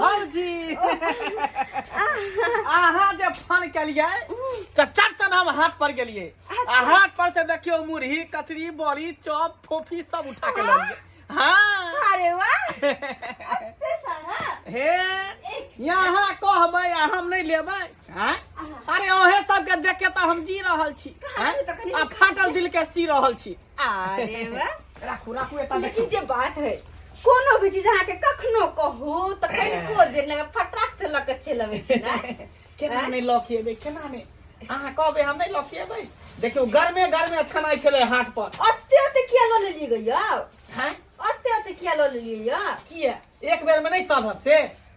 भौजी अहाँ जे फोन केलियै तऽ चट सन हम हाट पर गेलियै आ हाट पर से देखियो मुरही कचरी बड़ी चॉप फोफी सब उठा के लेलियै हाँ अरे वाह एते सारा हे यहाँ कहबै आ हम नहीं लेबै हैं? अरे ओहे सबके देख के तो हम जी रहल छी हैं? तो कनी- आ फाटल दिल के सी रहल छी अरे वाह राखू राखू एता देखू लेकिन जे बात है कोनो भी चीज अहाँके कखनो कहू तऽ कनिको देर लगे फटाक से लऽ के चलि अबै छी ने केना हैं? नहीं लौकिएबै केना नहीं अहाँ कहबै हम नहीं लौकिएबै देखियो गर्मे गर्मे अछनाइ छलै हाट पर ओते ओते किया लऽ लेलियै गैया हैं? ओते ओते किया लऽ लेलियै यौ किया एक बेर में नहीं साधत से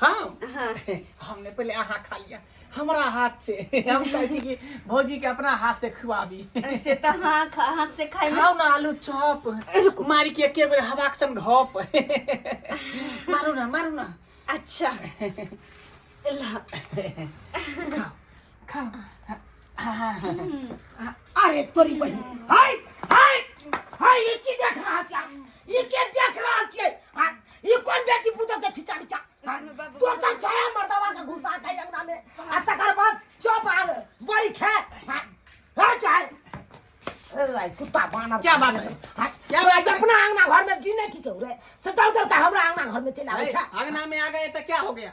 हम हाँ हमने पहले अहाँ खा लिया हमारा हाथ से हम चाहे छी कि भौजी के अपना हाथ से खुआबी से तो हाँ खा- हाथ से खाए में खाओ ना आलू चॉप मार के एके बेर हवा के संग घप मारू ना मारू ना अच्छा ला खाओ अरे तोरी बहिन हाय हाय हाय ई की देख रहा छै ई के देख रहा छै हाय, ई कोन बेटी पुतो के छिचा बिचा दोसर छोरा मर्दवा के घुसा के अंगना में आ तकर बाद चुप आ गए, बड़ी खे हाय हाय चाहे अरे कुत्ता बानर क्या बात है? हाय, क्या तोरा बात है? अपना अंगना घर में जी नहीं ठीक है रे से दौड़ दौड़ के हमरा अंगना घर में चला आवे छै आगना में आ गए तो क्या हो गया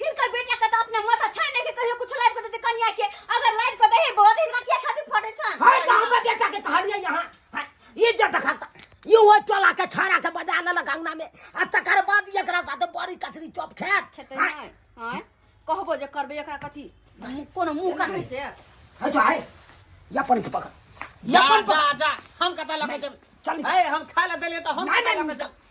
हिनकर बेटा के तो अपने माथा छाय ने के कहियो कुछ लाइव कर देते कन्या के अगर लाइव कर दे बहुत हिनका किया खातिर फटे छन हाय तो हमर बेटा के कहलिए यहां हाय, ये जे देखत ये वो चला के छाड़ा के बजा ले गंगना में आ तकर बाद एकरा साथे बड़ी कचरी चॉप खेत खेते हाय, हैं हां कहबो जे करबे एकरा कथी मु- कोनो मुंह का नहीं से हाय तो हाय या पानी के पकड़ या जा पानी जा पकड़ जा हम कता लगे चल निकल। ए हम खा ले देले तो हम नहीं, कता नहीं, लगे निकल।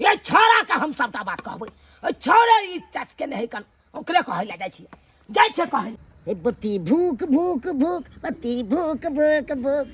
ए छोरा के हम सबटा बात कहबै ए छोरे ई चस के नहीं कन ओकरे कहै ले जाइ छी जाइ छै कहै ए बत्ती भूक भूक भूक बत्ती भूक भूक भूक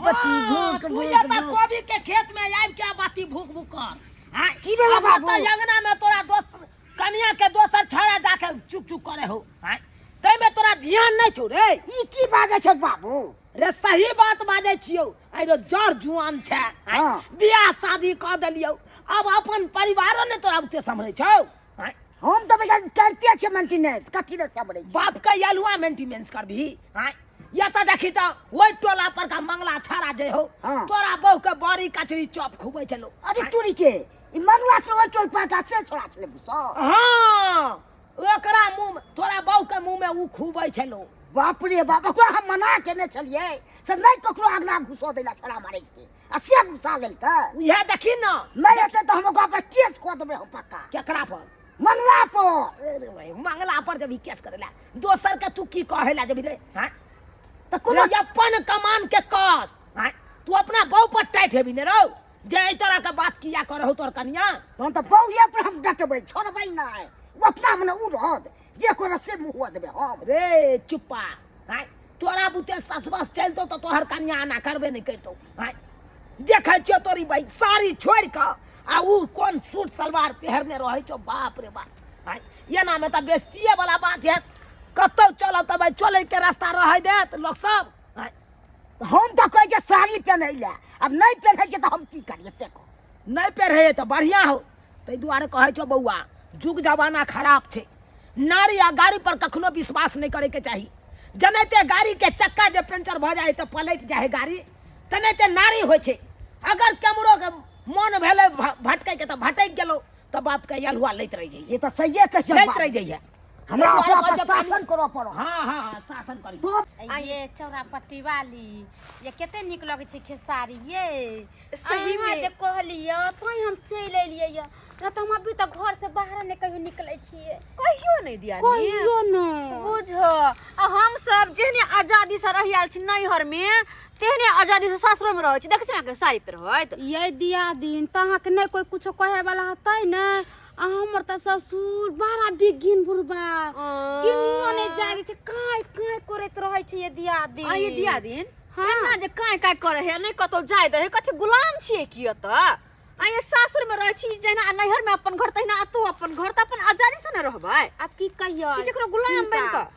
बत्ती भूक तू भूक एतऽ भूक कोबी के खेत में आइब के बाती भूक भूक कर हाँ, की भेलै अब बाबू? ओतऽ अंगना में तोरा दोस्त कनिया के दोसर छोरा जाके चुप चुप करे हो हाँ, ताहिमे तोरा ध्यान नहि छौ रे ई की बाजै छै बाबू रे सही बात बाजै छियौ आइ रे जड़ जुआन छै आँय, हाँ। बियाह शादी कऽ देलियौ अब अपन परिवारो ने तोरा बुते सम्हरै छौ आँय, हम तऽ बेटा करिते छियै मेंटेनेंस कथी लए समरे छी बाप के यलुआ मेंटेनेंस करबही आँय, या तऽ देखी तऽ ओहि टोला पर का मंगला छाड़ा जे हो हाँ। तोरा बहू के बड़ी कचरी चॉप खुबै छलो अरे तोरी के ई मंगला से ओहि टोल पर का से छोड़ा छले बुसा हाँ ओकरा मुंह में तोरा बहू के मुंह में ऊ खूबै छै लोग बाप रे बाप ओकरा हम मना केने छलियै से नहि ककरो अगना घुसो दै ला छोड़ा मारै के आ से घुसा लेलकै उहे देखी न नहि एतै तऽ हम ओकरा पर केस कऽ देबै हम पक्का केकरा पर मंगला पर अरे भाई, मंगला पर जब ई केस करे ला दोसर के तू की कहे ला जब रे हाँ? तऽ कोनो रे अपन कमान के कस हाँ? तू अपना बहू पर टाइट हेबी ने रौ जे एहि तरह के बात किया करहु तोर कनिया तहन तऽ बौए पर हम डटबै छोड़बै नहि ओ अपना मने ओ रहत जे करत से मुँह देबै हम रे चुप्पा आय तोरा बुते ससबस चलतो तऽ तोहर कनिया आना करबे नहि करतो आय देखै छियो तोरी भाई साड़ी छोड़ि कऽ आ ऊ कोन सूट सलवार पहिरने रहै छौ बाप रे बाप आय एनामे तऽ बेस्तिए वाला बात है कतौ चलऽ तऽ भाई चलैके रास्ता रहै देत लोक सब तऽ हम तऽ कहै छियै साड़ी पेन्है लए आब नहि पेन्है छियै तऽ हम की करियै से कह नहि पेन्है तऽ बढ़िआँ हो ताहि दुआरे कहै छौ बौआ जुग जमाना खराब छै नारी आ गाड़ी पर कखनो विश्वास नहि करैके चाही जनाहिते गाड़ीके चक्का जे पंचर भऽ जाइ है तऽ पलटि जाइ है गाड़ी तेनाहिते नारी होइ छै अगर केमरोके मोन भेलै भ- भटकैके तऽ भटकि गेलहुँ तऽ बापके यलहुआ लैत रहि जाइ से तऽ सहिए कहै छै लैत बाप। रहि जाइ है हमरा अपना पर शासन करऽ पड़ो हाँ हाँ हाँ शासन करी आ ये चौरा पट्टी वाली ये कते निक लगे छै खेसारी ये सही में जे कहलिए तोय हम चल एलिए ये न त हम अभी तक घर से बाहर ने कहियो निकले छिए कहियो नहीं दिया कहियो ने बुझ आ हम सब जेहने आजादी से रहि आल छी नैहर में तेहने आजादी से सासुर में रहै छी देखे छी ना के साड़ी पर होइत ये दिया दिन तहां के नहीं कोई कुछो कहे वाला हतै ने आ हमर त ससुर बड़ा बिघिन बुढ़बा किनुआ ने जाने छै काई काई करैत रहै छै ये दियादी आ ये दिया दिन हाँ। एना जे काहे काहे करे है नहीं कतो जाय दे है कथी गुलाम छिए की एत आ ये सासुर में रह छी जेना आ नैहर में अपन घर तहिना आ तू अपन घर त अपन आजादी से न रहबै आब की कहियो कि केकरो गुलाम बनि कऽ?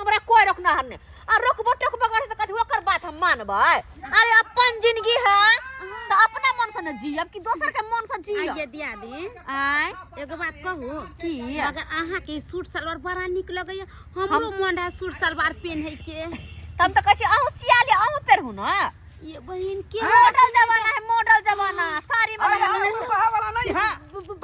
हमरा कोई रोकनाहर ने आ रोकबो टोकबो करे त कथि ओकर बात हम मानबै अरे अपन जिंदगी है त अपना मन से न जियब कि दोसर के मन से आइए जियब दिया दी आय एगो बात कहू की अगर अहाँ के ई सूट सलवार बड़ा निक लगैया हमरो मन है सूट सलवार पहने के तब त कहै अहू सियाले अहू पेरहु न ये बहिन के मॉडल जमाना है मॉडल जमाना साड़ी में अरे लगा हम के- गुरु बहा वाला नहीं है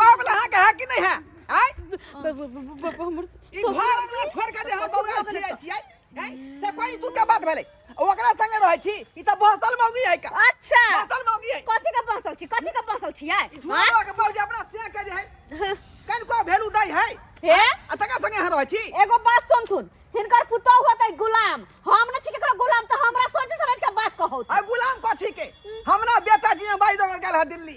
बा वाला है कि है कि नहीं है आय ब- ब- ब- ब- ब- हमर ई सब- घर अंगना छोड़ के जे हम बौआ फिरै छियै हैं? से कोई तू के बात भेलै ओकरा संगे रहै छी ई त बहसल मौगी है का अच्छा बहसल मौगी है कथी के बसल छी कथी के बसल छी आय सुनबा के बाबूजी अपना से के जे है कन को भेलू दै है हे आ तका संगे यहाँ रहै छी एगो बात सुनथुन हिनकर पुतोह होतै गुलाम हम ने छी केकरो गुलाम तऽ हमरा सोचे समझ के बात कहौ आ गुलाम कथी के हमरा बेटा जी बाई दो गेल है दिल्ली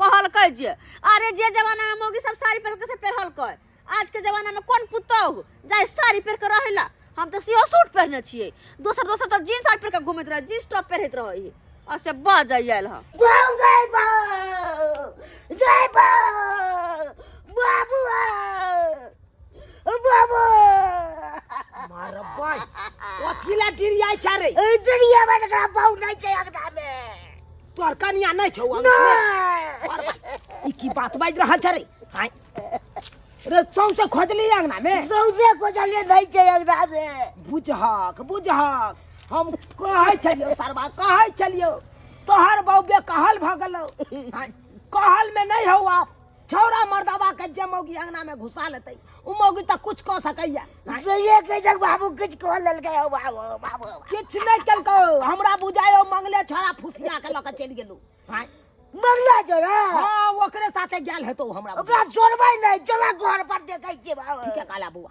कहलकै जे अरे जे जमाना में मौगी सब साड़ी पहन के से पहनलकै आज के जमाना में कौन पुतौह जाय साड़ी पहन के रहेला हम तो सीओ सूट पहनने छियै दोसर दोसर तो जीन्स साड़ी पहन के घूमैत रहे जीन्स टॉप पहिरैत रहै है और से बाज आयल हम बम गई बम गई बम बाबू बाबू मारो भाई कथी ला डिरियाई छा रे इधर ये बन गया बहु नहीं चाहिए अगना में तोहर कनिया नहीं छौ अंग में? और बा- ई की बात बाज रहल छै रे हाय रे सौंसे खोजली अंगना में सौंसे खोजलिए नहीं छै अंगना में बुझहक बुझहक हम कहै छलियो सरवा कहै छलियो तोहर बौबे कहल भऽ गेलौ हाय, कहल में नहीं हौ आप छौड़ा मर्दबा के जे मौगी अंगना में घुसा लेते उ मौगी त कुछ क सकैया सही कह जग बाबू कुछ कह ललके हो बाबू बाबू किछ नहीं केलको हमरा बुझायो मंगले छौड़ा फुसिया के लके चल गेलू हां मंगला जोड़ा हां ओकरे साथे गेल हेतो हमरा ओकरा जोड़बै नहीं चला घर पर देखै छी बाबू ठीक है काला बुआ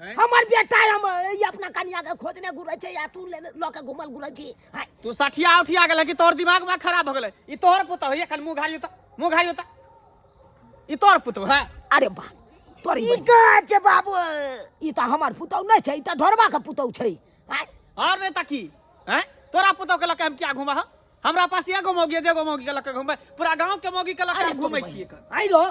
हमर बेटा हम ई अपना कनिया के खोजने घुरै छै या तू लेने लऽ के घुमल घुरै छी हाय तू सठिया उठिया गेल कि तोहर दिमाग में खराब हो गेलै ई तोहर पुत होइए कल मुँह घारी होता मुँह घारी होता ई तोहर पुत है अरे बा तोरी ई कहाँ छै बाबू ई तऽ हमर पुतौ नहि छै ई तऽ ढोरबा के पुतौ छै हाय और नहीं तकी हैं तोरा पुतौ के लके हम क्या घुमा हो हमरा पास एगो मौगी है जेगो मौगी के लक घूमे पूरा गांव के मौगी के लक अरे हम घूमे तोर छिए बहिन। आइ लो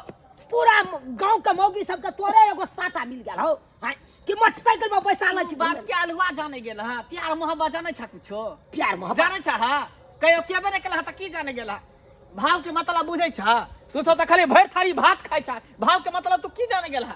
पूरा गांव के मौगी सबके तोरे एगो साटा मिल गेल हो हाय कि मोटरसाइकिल पर पैसा लै छी बात के अलवा जाने गेल हां प्यार मोहब्बत जाने छा कुछो प्यार मोहब्बत जाने छा हां कहियो के बने केला त की जाने गेला भाव के मतलब बुझै छा तू सब त खाली भर थारी भात खाइ छा भाव के मतलब तू की जाने गेला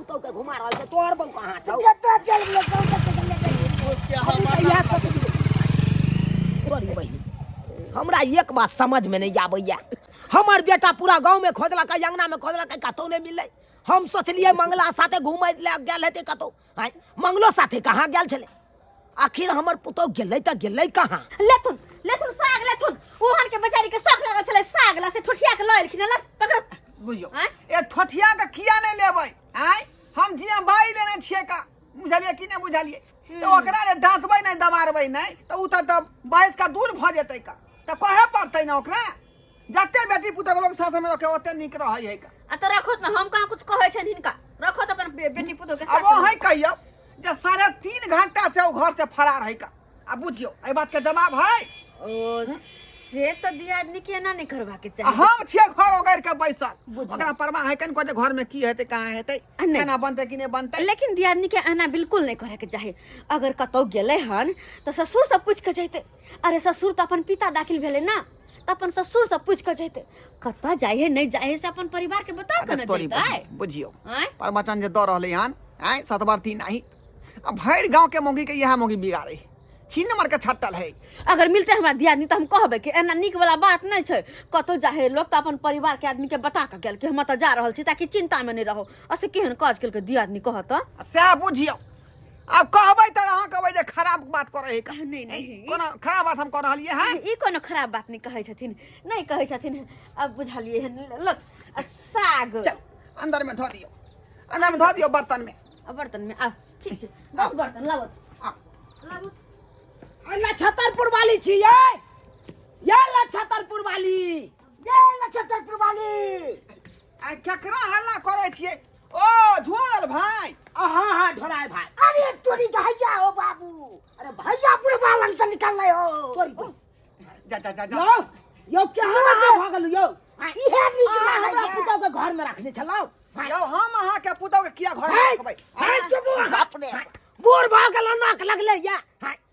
तो के घुमा रहल छै तोहर बहू कहाँ छौ कतऽ चल गेलै कौन सा के संगे चल गेलै उसके अभी हमर तऽ इएह सब बड़ी बहिन हमरा एक बात समझ में नहीं आबैया हमर बेटा पूरा गांव में खोजलक अंगना में खोजलक कतौ नहीं मिललै हम सोचलियै मंगला साथे घूमै लए गेल हेतै कतौ आँय, मंगलो साथे कहाँ गेल छलै आखिर हमर पुतौ गेलै तऽ गेलै कहाँ लेथुन लेथुन साग लेथुन ओहन के बेचारी के शौक लागल छलै साग ला से ठुठिया के लऽ एलखिन हँ, लस पकड़ बुझियो आँय? ए ठोठिया के किया नहीं लेबै आय हम जिया बाई लेने छिए का बुझलिए कि नहीं बुझलिए तो ओकरा रे डांटबै नहीं दबारबै नहीं तो उ त बाइस का दूर भ जेतै का त कहे पड़तै ना ओकरा जते बेटी पुतहु लोग साथ में रखे ओते निक रहै है का आ तऽ रखो ने हम कहाँ कुछ कहै छनि हिनका रखो तऽ अपन बे- बेटी पुतोह के अब वो साथ है कहियो जे साढ़े तीन घंटा से वो घर से फरार है का आ बुझियो एहि बात के जवाब है ओ से तऽ दियादनी के एना नहि करबाक आ चाही हम छियै घर ओगैर के बैसल बुझलहुँ। ओकरा परवाह है कन कोटे घर में की हेतै कहाँ हेतै आ नहि। केना बनतै कि नहि बनतै लेकिन दियादनी के एना बिल्कुल नहि करैके चाही अगर कतौ गेलै हन तऽ ससुर से पूछि कऽ जैतै अरे ससुर तऽ अपन पिता दाखिल भेलै ने तऽ अपन ससुर से पूछ कऽ जैते कतऽ जाइ है नहि जाइ है से अपन परिवार के बता कऽ ने तोरी जैते बहिन, बुझियौ आँय? प्रवचन जे दऽ रहलै हन आँय सतवर्ती नाही आ भरि गाँवके मौगीके इएह मौगी बिगाड़ै छीन मारके छट्टल है अगर मिलते हमरा दियादनी तऽ हम कहबै कि एना नीक वाला बात नहि छै कतौ जा है लोग तऽ अपन परिवार के आदमी के बता कऽ गेल कि हम तऽ जा रहल छी ताकि चिंता में नहि रहो असे केहन काज केलकै दियादनी कहत तऽ आ सएह बुझियौ आब कहबै तऽ अहाँ कहबै जे खराब बात करै है का नहीं, नहीं। कोनो खराब बात हम कऽ रहलियै हँ ई कोनो खराब बात नहि कहै छथिन नहि कहै छथिन अब बुझलिए हन लग आ साग चल अंदर में धऽ दियौ अंदर में धऽ दियौ बर्तन में आ बर्तन में आ ठीक छै दस बर्तन लाबत आ लाबत अल्ला छतरपुर वाली छी ये ये अल्ला छतरपुर वाली ये अल्ला छतरपुर वाली आ केकरा हल्ला करै छियै ओ झोरल भाई अहा हा ढोराय भाई अरे तोरी गहैया हो बाबू अरे भैया बुढ़वा लंग से निकल रहे हो तोरी को जा जा जा जा यो यो क्या हाल भऽ गेल यो इहे नीक अहाँ हमरा लागैया पुतहु के घर में रखने छलौ यौ हम अहाँ के पुतौ के किया घर में हाय, रखबै हाय, चुप रहो। अपने बूढ़ भऽ गेल नाक लगले या हाय,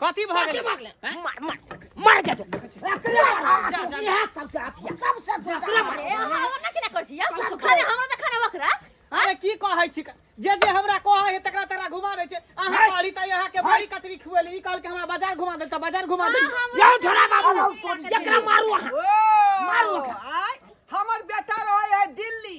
कथी भऽ गेल मार मार मार जा तू इहे सबसे अथी है। सबसे छोटा हमरा केना कर छी सब खाने हमरा त खाना बकरा अरे की कहै छी जे जे हमरा कहै है तकरा तकरा घुमा दै छै अहाँ कहली तऽ अहाँ के बड़ी कचरी खुएली ई कहल के हमरा बाजार घुमा दे तऽ बाजार घुमा दे यौ झोला बाबू एकरा मारू अहाँ मारू ओकरा। आय हमर बेटा रहे है दिल्ली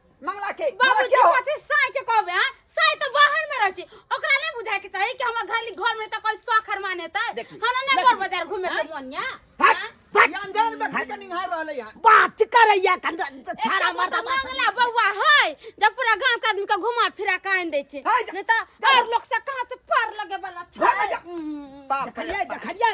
मंगला के मंगला बाबूजी क्या हो कथी साई के कहबे हां साई तो बाहर में रहै छी ओकरा नहीं बुझाय के चाही कि हमर घर घर में त कोई सखर माने त देखी, हमरा नहीं देखी। बोल बाजार घूमे के हैं? मन या हट, हट। ये अनजान व्यक्ति के निहार रहले यहाँ बात करैया कन छाड़ा मरदा बात मंगला बौआ है जब पूरा गांव के आदमी के घुमा फिरा के आन दै छै है, जा- नहीं त और लोग से कहां से पार लगे वाला छै भाग जा। हम्म। बाप रे देखलियै बाप। देखलियै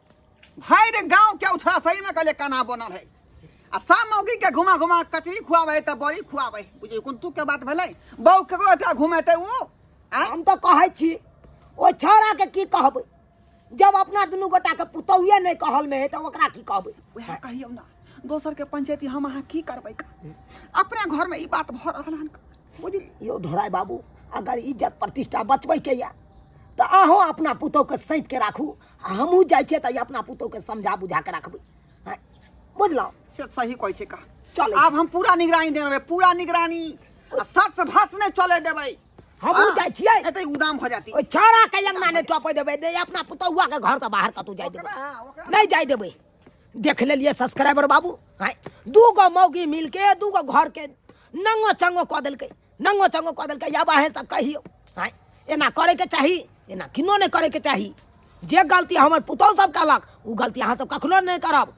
भाई रे गांव के उठा सही में कले कना बनल है आ सब मौगी के घुमा घुमा कचरी खुआवे त बड़ी खुआवे बुझे कोन तू के बात भेलै बहु के ओठा घुमेते उ आय हम तो कहै छी ओ छौड़ा के की कहबै जब अपना दुनू गोटा के पुतौए नहीं कहल में है तो ओकरा की कहबै वह कहियो ना दोसर के पंचायती हम अहाँ की करबै का? अपने घर में ई बात भ रहल हन बुझली यो ढोराय बाबू अगर इज्जत प्रतिष्ठा बचबै के या तो अहूँ अपना पुतौह के सैत के राखू आ हमहूँ जाइ छियै तऽ अपना पुतोहके समझा बुझा कऽ रखबै हँ, बुझलहुँ से सही कहै छै का चलै छी। आब हम पूरा निगरानी देबै पूरा निगरानी आ सच भस नहि चले देबै हमहूँ जाइ छियै एतै उदाम हो जाती ओहि छौड़ाके अंगना नहि टपै देबै नहि अपना पुतौआके घरसँ बाहर कतहु जाइ देबै ओकरा हाँ, ओकरा नहीं जाए देवे देख लेलिए सब्सक्राइबर बाबू हैं दू गो मौगी मिलके दू गो घर के नंगो चंगो कऽ देलकै नंगो चंगो कऽ देलकै आब अहेँ सब कहियौ आँय एना करैके चाही एना किनो नहि करैके चाही जे गलती हमर पुतहु सब कहलक ओ गलती अहाँ सब कखनो नहि करब